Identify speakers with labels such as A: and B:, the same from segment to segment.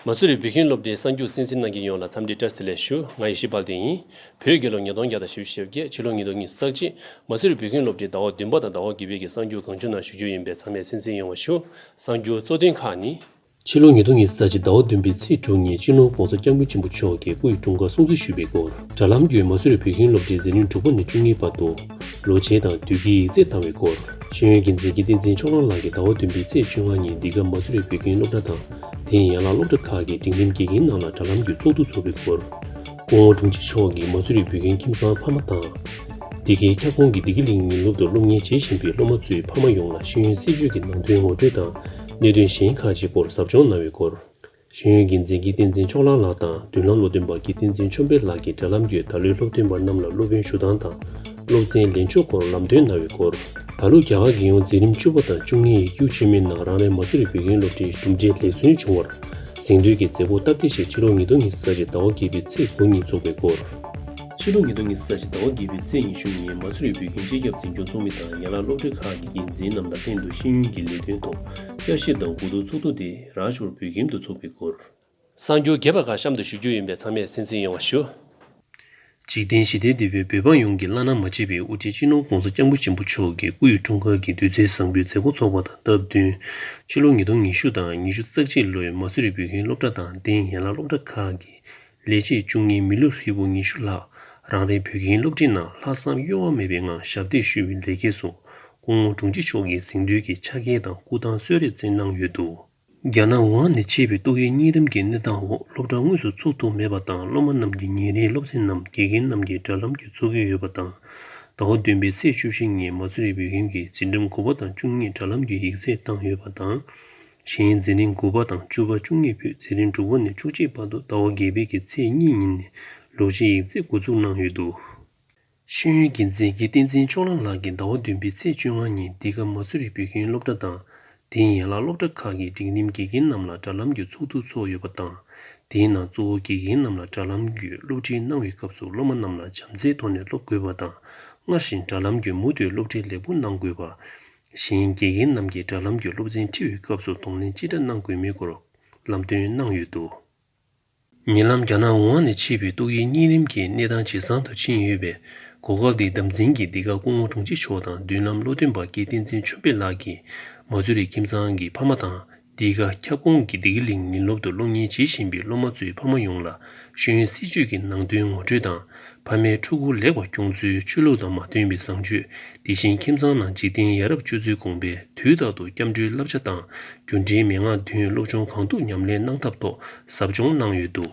A: མ་སུ་རི་བོད་ཁྱིམ་སློབ་གྲྭའི་གསར་འགྱུར་སེམས་གསིམ་གནང་མཁན་ཡོངས་ལ་འཚམས་འདྲི་བཀྲ་སྟི་ལེགས་ཞུ་ང་ཡེ་ཤེས་དཔལ་ལྡན་ཡིན། བོད་དགེ་སློབ་ཉིས་སྟོང་བརྒྱ་དང་ཞེ་བཞི་ཞེ་བརྒྱད་ཕྱི་ལོ་ཉིས་སྟོང་གཉིས་སུ་བསགས་རྗེས་མ་སུ་རི་བོད་ཁྱིམ་སློབ་གྲྭའི་ཟླ་བ་བདུན་པ་དང་ཟླ་བ་དགུ་པའི་གསར་འགྱུར་གང་བྱུང་ནང་ཞུ་རྒྱུ་ཡིན་པས་ཚང་མས་སེམས་གསིམ་ཡོང་བ་ཞུ། གསར་འགྱུར་གཙོ་དོན་ཁག་ནི། ཕྱི་ལོ་ཉིས་སྟོང་ཉིས་བརྒྱད་ཀྱི་ཟླ་བ་བདུན་པའི་ཚེས་དྲུག་ཉིན་ཅིན་ལོང ྋགོང་ས ྋསྐྱབས་མགོན་ཆེན་པོ་མཆོག་གིས་སྐུ་ཡི་དྲུང་འཁོར་སྲུང་བརྩི་ཞུས་པའི་སྐོར་དྲ་ལམ་བརྒྱུད་མ་བཟོས་པའི་བོད་ཁྱིམ་སློབ་གྲྭའི་མཛད་ནུས་འབྲུག་པ་ནས་བཅུ་གཉིས་པ་དུ་ལོ་ཆེན་དང་དུས་དཀྱིལ་ཡིག་རྩེག་བཏང་བའི་སྐོར་ཤེས་ཡོན་གྱི་མཛད་འཕྲིན་བསྟན་འཛིན་ཕྱོགས་རང་ལགས་ཀྱིས་ཟླ་བ་བདུན་པའི་ཚེས་བཅོ་ལྔ་ཉིན་འདི་ག་མ་བཟོས་པའི་བོད་ཁྱིམ་སློབ་གྲྭ་དང་དེའི་ཡན་ལག་སློབ་གྲྭ་ཁག་གི་འབྲིང་རིམ་དགེ་རྒན་རྣམས་ལ་དྲ་ལམ་བརྒྱུད་ཚོགས་འདུ་འཚོགས་པའི་སྐོར་སྐུ་ངོ་དྲུང་ཆེ་མཆོག་གིས་མ་བཟོས་པའི་བོད་ཁྱིམ་ཁྱིམ་ཚང་ཕ་མ་དང། འདི་གའི་ཁྱབ་ཁོངས་ཀྱི་འདི་ག་གླིང་ཉིན་སློབ་ཏུ་སློབ་གཉེར་བྱེད་བཞིན་པའི་སློབ་མ་ཚོའི་ཕ་མ་ཡོངས་ལ་ཤེས་ཡོན་སྲིད་བྱུས་ཀྱི་ནང་དོན་ངོ་སྤྲོད་དང་གནད་དོན་གཞན་ཁག་ཅིག་སྐོར་ཟབ་སྦྱོང་གནང་བའི་སྐོར། ཤེས་ཡོན་འགན་འཛིན་ཀིརྟི་འཛིན་མཆོག་ལགས་ལགས་དང་མདུན་ལམ་བློ་མཐུན་པ་ཀིརྟི་འཛིན་མཆོག་འཕེལ་ལགས་ཀྱི་འབྲེལ་ལམ་བརྒྱུད་ད་ལོའི་སློབ་ཐོན་པ་རྣམས་ལ་སློབ་དཔོན་ཞུ་སྟངས་དང་སློབ་ཚན་ལེན་ཕྱོགས་སྐོར་ལམ་སྟོན་གནང་བའི་སྐོར། ད་ལོ་རྒྱ་གར་གྱི་ཡོངས་འཛིན་རིམ་བཅུ་བ་དང་བཅུ་གཉིས་ཡིག་རྒྱུགས་ཆེན་མོའི་ནང་རང་རེའི་མ་ཚུར་བོད་ཁྱིམ་སློབ་གྲྭའི་གྲུབ་འབྲས་ལེགས་སོན་བྱུང་བར་གཟེངས་བསྟོད་ཀྱི་མཛད་སྒོ་སྟབས་བདེ་ཞིག་ཕྱི་ལོ་ཉིས་སྟོང་ཉི་ཤུ་ཟླ་བཞི་ཟླ་བ་བརྒྱད་པའི་ཚེས་དགུ་ཉིན་འཚོགས་པའི་སྐོར། ཕྱི་ལོ་ཉིས་སྟོང་ཉིས་བརྒྱ་ཟླ་བཞི་ཟླ་བ་བརྒྱད་པའི་ཚེས་ཉི་ཤུ་ཉིན་མ་སུ་རིའི་བོད་ཁྱིམ་སྤྱི་ཁྱབ་འཛིན་སྐྱོང་ཚོགས་མི་དང་ཡན་ལག་སློབ་གྲྭའི་ཁག་གི་འགན་འཛིན་རྣམས་དང་སྟེང་དུ་ཤེས་ཡོན་གྱི་ལས་དོན་ཐོག་བསྐྱར་ཞིབ་དང་གོ་བསྡུར་ཚོགས་འདུ་དེ་རང་ཞོར་བོད་ཁྱིམ་དུ་ཚོགས་པའི་སྐོར། གསར་འགྱུར་རྒྱས་པ་ཁག་གཤམ་དུ་ཞུ་རྒྱུ་ཡིན་པས་ཚང་མས་སེམས་གསོ་ཡོང་བ་ཞུ། འཇིག་རྟེན་ཞི་བདེའི་དུས་བབ་བོད་འབངས་ཡོངས་ཀྱི་བླ་ན་མ་མཆིས་པའི་དབུ་ཁྲིད་སྤྱི་ནོར ྋགོང་ས ྋསྐྱབས་མགོན་ཆེན་པོ་མཆོག་གི་སྐུ་ཡི་འཁྲུངས་སྐར་གྱི་དུས་ཚོད་བཟང་པོའི་མཛད་སྒོ་འཚོགས་པ་དང་སྟབས་བསྟུན། ཕྱི་ལོ་ཉིས་སྟོང་ཉི་ཤུ་དང་ཉི་ཤུ་རྩ་གཅིག་ལོའི་མ་སུ་རི་བོད་ཁྱིམ་སློབ་གྲྭ་དང་སྟེང་ཡན་ལག་སློབ་གྲྭ་ཁག་གི་ལས་བྱེད་བཅུ་གཉིས་མི་ལུས་ཧྲིལ་པོ་ཉི་ཤུ་ལྷག་རང་རེའི་བོད་ཁྱིམ་སློབ་ཁྲིད་ནང་ལྷག་བསམ་གཡོ་བ་མེད་པའི་ངང་ཞབས་འདེགས་ཞུ་བའི་ལེགས་སྐྱེས་སུ་སྐུ་ངོ་དྲུང་ཆེ་མཆོག་གིས་གཟེངས་བསྟོད་ཀྱི་ཕྱག་འཁྱེར་དང་སྐུ་ཐང་གསོལ་རས་བསྩལ་གནང་ཡོད་འདུག། རྒྱ་ནག་ཝུ་ཧན་ནས་མཆེད་པའི་ཏོག་དབྱིབས་གཉན་རིམས་ཀྱི་གནས་སྟངས་འོག་སློབ་གྲྭ་དངོས་སུ་ཚུགས་ཐུབ་མེད་པ་དང་སློབ་མ་རྣམས་ཀྱི་ཉིན་རེའི་སློབ་ཚན་རྣམས་དགེ་རྒན་རྣམས་ཀྱིས་དྲ་ལམ་གྱིས་འཚོལ་གྱི་ཡོད་པ་དང། ཟླ་བ་བདུན་པའི་ཚེས་བཅུ་བཞི་ཉིན་མ་སུ་རི་བོད་ཁྱིམ་གྱི་འཛིན་རིམ་དགུ་པ་དང་བཅུ་གཉིས་དྲ་ལམ་གྱིས་ཡིག་ཚད་བཏང་ཡོད་པ་དང། གཞན་འཛིན་རིང་དགུ་པ་དང་བཅུ་བ་བཅུ་གཉིས་པོས་འཛིན་རིང་དྲུག་པ་ནས་བཅུ་གཅིག་བར་དུ་ཟླ་བ་བརྒྱད་པའི་ཀྱི་ཚེས་གཉིས་ཉིན་ནས་ལུག་རྗེའི་ཡིག་རྩིས་འགོ་འཛུགས་གནང་ཡོད་འདུག། ཤེས་ཡོན་དགེ་མཚན་གྱི་བསྟན་འཛིན་ཕྱོགས་གླང་ལགས་ཀྱིས་ཟླ་བ་བདུན་པའི་ཚེས་བཅོ་ལྔ་ཉིན་འདི་ག་མ་སུ་རི་བོད་ཁྱིམ་སློབ་གྲྭ་དང་དེའི་ཡན་ལག་སློབ་གྲྭ་ཁག་གི་འབྲིང་རིམ་དགེ་རྒན་རྣམས་ལ་དྲ་ལམ་གྱི་ཚོགས་འདུ་ཚོགས་ཡོད་པ་དང་དེའི་ནང་གཙོ་བོ་དགེ་རྒན་རྣམས་ལ་དྲ་ལམ་བརྒྱུད་སློབ་ཁྲིད་གནང་བའི་སྐབས་སུ་སློབ་མ་རྣམས་ལ་བྱམས་བརྩེའི་ཐོག་ནས་སློབ་དགོས་པ་དང་སྔར་བཞིན་དྲ་ལམ་བརྒྱུད་མུ་མཐུད་སློབ་ཁྲིད་ལེགས་པོ་གནང་དགོས་པ། བཞིན་དགེ་རྒན་རྣམས་ཀྱིས་དྲ་ལམ་བརྒྱུད་སློབ་ཚན་ཁྲིད་ཡོད་སྐབས་སུ་གདོང་ལེན་ཅི་འདྲ་གནང་དགོས་མིན་སྐོར་ལམ་སྟོན་གནང་ཡོད་འདུག། ཉེ་ལམ་རྒྱ་ནག་ཝུ་ཧན་ནས་མཆེད་པའི་ཏོག་དབྱིབས་གཉན་རིམས་ཀྱི་གནས་སྟངས་ཇེ་བཟང་དུ་ཕྱིན་ཡོད་པའི་གོ་སྐབས་འདི་བདམས་ཟིན་གྱིས་འདི་ག་སྐུ་ངོ་དྲུང་ཆེ་མཆོག་དང་མདུན་ལམ་བློ་མཐུན་པ་སྐལ་བསྟན་འཛིན་ཆོས་འཕེལ་ལགས་ཀྱིས་མ་ཚུ་རི་ཁྱིམ་ཚང་གི་ཕ་མ་དང། འདི་ག་ཁྱབ་ཁོངས་ཀྱི་བདེ་སྐྱིད་གླིང་ཉིན་སློབ་ཏུ་སློབ་གཉེར་བྱེད་བཞིན་པའི་སློབ་མ་ཚོའི་ཕ་མ་ཡོངས་ལ་ཤེས་ཡོན་སྲིད་བྱུས་ཀྱི་ནང་དོན་ངོ་སྤྲོད་དང་ཕ་མའི་ཕྲུ་གུ་ལེགས་པར་སྐྱོང་ཚུལ་ཆོས་ལུགས་དང་མ་མཐུན་པའི་བཟང་སྤྱོད་འདི་བཞིན་ཁྱིམ་ཚང་ནང་འཇིག་རྟེན་ཡ་རབས་སྤྱོད་ཚུལ་དགོངས་པས་དུས་རྟག་ཏུ་སྐྱབས་འགྲོའི་བསླབ་བྱ་དང་རྒྱུ་འབྲས་མན་ངག་བདུན་སློབ་ཆུང་གང་ཐུབ་ཉམས་ལེན་གནང་ཐབས་ཐོག་ཟབ་སྦྱོང་གནང་ཡོད་འདུག།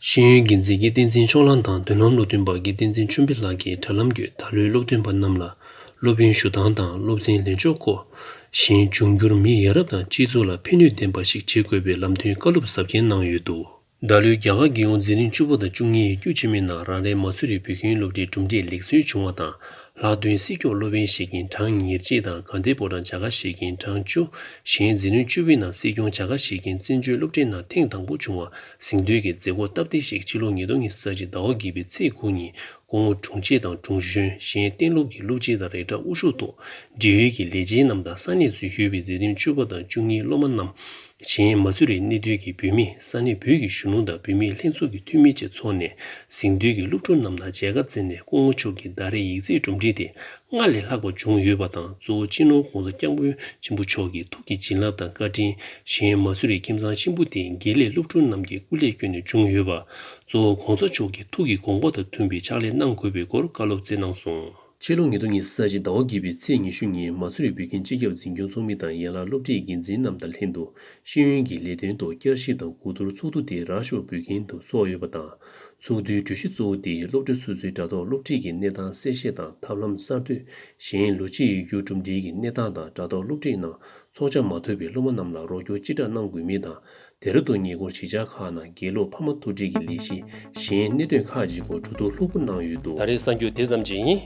A: ཤེས་ཡོན་དགེ་མཚན་གྱི་བསྟན་འཛིན་ཕྱོགས་གླང་དང་བདུན་ལམ་སློབ་སྟོན་པ་དགེ་བསྟན་འཛིན་ཆུ་འབི་ལགས་ཀྱིས་དྲ་ལམ་བརྒྱུད་ད་ལོའི་སློབ་སྟོན་པ་རྣམས་ལ་སློབ་ཡོན་ཞུ་སྟངས་དང་སློབ་ཚན་ལེན་ཕྱོགས་སྐོར། གཞན་འབྱུང་འགྱུར་མི་ཡ་རབས་དང་སྤྱི་ཚོགས་ལ་ཕན་ནུས་ལྡན་པ་ཞིག་བྱེད་དགོས་པའི་ལམ་སྟོན་བཀའ་སློབ་གཟབ་རྒྱན་གནང་ཡོད་འདུག། ད་ལོའི་རྒྱ་གར་དགེ་ཡོངས་འཛིན་རིམ་བཅུ་པ་དང་བཅུ་གཉིས་ཡིག་རྒྱུགས་ཆེན་མོའི་ནང་རང་རེའི་མ་སུ་རི་བོད་ཁྱིམ་སློབ་གྲྭའི་གྲུབ་འབྲས་ལེགས་སོན་བྱུང་བ་དང་ལྷག་དོན་སྲིད་སྐྱོང་སློབ་དཔོན་ཞེ་ཀེན་ཀྲང་ཉེར་གཅིག་དང་དགའ་ལྡན་པོ་ཀྲང་བྱ་དགའ་ཞེ་ཀེན་ཀྲང་བཅུ་གཞན་འཛིན་རིམ་བཅུ་བའི་ནང་སྲིད་སྐྱོང་བྱ་དགའ་ཞེ་ཀེན་བཙན་བྱོལ་སློབ་གྲྭའི་ནང་ཐེངས་དང་པོ་བྱུང་བ། ཟིང་འདུལ་གྱི་མཛད་སྒོ་སྟབས་བདེ་ཞིག་ཕྱི་ལོ་ཉིས་སྟོང་ཉིས་ས་གཅིག་ཟླ་བ་བརྒྱད་པའི་ཚེས་དགུ་ཉིན་སྐུ་ངོ་དྲུང་ཆེ་དང་དྲུང་གཞོན་གཞན་གཏན་སློབ་ཀྱི་སློབ་སྤྱི་དང་རེ་དྲག་དབུ་བཞུགས་ཐོག་འབྲེལ་ཡོད་ཀྱི་ལས་བྱེད་རྣམས་དང་ས་གནས་སུ་ཡོད་པའི་མཛད་དོན་ཆོས་པ་དང་བཅུ་གཉིས་སློབ་མ་རྣམས་གཞན་མ་ཚུར་རེ་གནས་སྡོད་ཀྱི་བུད་མེད་ས་གནས་བོད་ཀྱི་གཞོན་ནུ་དང་བུད་མེད་ལྷན་ཚོགས་ཀྱི་འཐུས་མི་བཅས་ཚོགས་ནས་ཟིང་འདུལ་གྱི་སློབ་ཕྲུག་རྣམས་དང་མཇལ་ཁ་བསྩལ་ནས་སྐུ་ངོ་མཆོག་གིས་ཟླ་རེའི་ཡིག་རྩིས་སྒྲོམ་སྒྲིག་དེ་སྔར་ལས་ལྷག་པ་བྱུང་ཡོད་པ་དང་གཙོ་བོ་སྤྱི་ནོར ྋགོང་ས་སྐྱབས་མགོན་ཆེན་པོ་མཆོག་གི་ཐུགས་ཀྱི་བྱིན་རླབས་དང་བཀའ་དྲིན་གཞན་ཡང་མ་སུ་རི་ཁྱིམ་ཚང་ཆེན་པོ་དེ་དགེ་ལེགས་སློབ་ཕྲུག་རྣམས་ཀྱི་སྐུ་ལས་བསྐྱོན་ནས་བྱུང་ཡོད་པ། གཙོ་བོ ྋགོང་ས་མཆོག་གི་ཐུགས་ཀྱི་དགོངས་པ་དང་མཐུན་པའི་ཕྱག་ལས་གནང་དགོས་པའི་སྐོར་བཀའ་སློབ་སྩལ་གནང་སོང། ཕྱི་ལོ་ཉིས་སྟོང་ཉིས་ས་གཅིག་ཟླ་བ་བརྒྱད་པའི་ཚེས་ཉི་ཤུ་ཉིན་མ་སུ་རི་བོད་ཁྱིམ་སྤྱི་ཁྱབ་འཛིན་སྐྱོང་ཚོགས་མི་དང་ཡན་ལག་སློབ་ཁྲིད་འགན་འཛིན་རྣམས་དང་ལྷན་དུ་ཤེས་ཡོན་གྱི་ལས་དོན་ཐོག་བསྐྱར་ཞིབ་དང་གོ་བསྡུར་ཚོགས་འདུ་དེ་རག་ཤོག་བོད་ཁྱིམ་དུ་ཚོགས་ཡོད་པ་དང། ཚོགས་འདུའི་གྲོས་གཞི་གཙོ་བོ་དེ་སློབ་གྲྭའི་སོ་སོའི་དྲ་ཐོག་སློབ་ཁྲིད་ཀྱི་གནས་སྟངས་གསལ་བཤད་དང་ཐབས་ལམ་གསར་གཏོད། གཞན་ལོ་ཕྱེད་ཡོད་རྒྱུ་གྲུབ་འབྲས་ཀྱི་གནས་སྟངས་དང་དྲ་ཐོག་སློབ་ཁྲིད་ནང་ཚོགས་ཆ་མ་ཐོབ་པའི་སློབ་མ་རྣམས་ལ་རོགས་སྐྱོར་ཅི་དྲག་གནང་དགོས་མིན་དང་དེ་ར་ཐོག་ཉེ་འཁོར་གཞིས་ཆགས་ཁག་ནང་དགེ་སློབ་ཕ་མ་ཐུག་འཕྲད་ཀྱི་ལས་གཞི་གཞན་གནད་དོན་ཁག་ཅིག་སྐོར་གྲོས་བསྡུར་ལྷུག་པོ་གནང་ཡོད་འདུག། ད་རེས་གསར་འགྱུར་དེ་ཙམ་གྱིས་ཡིན།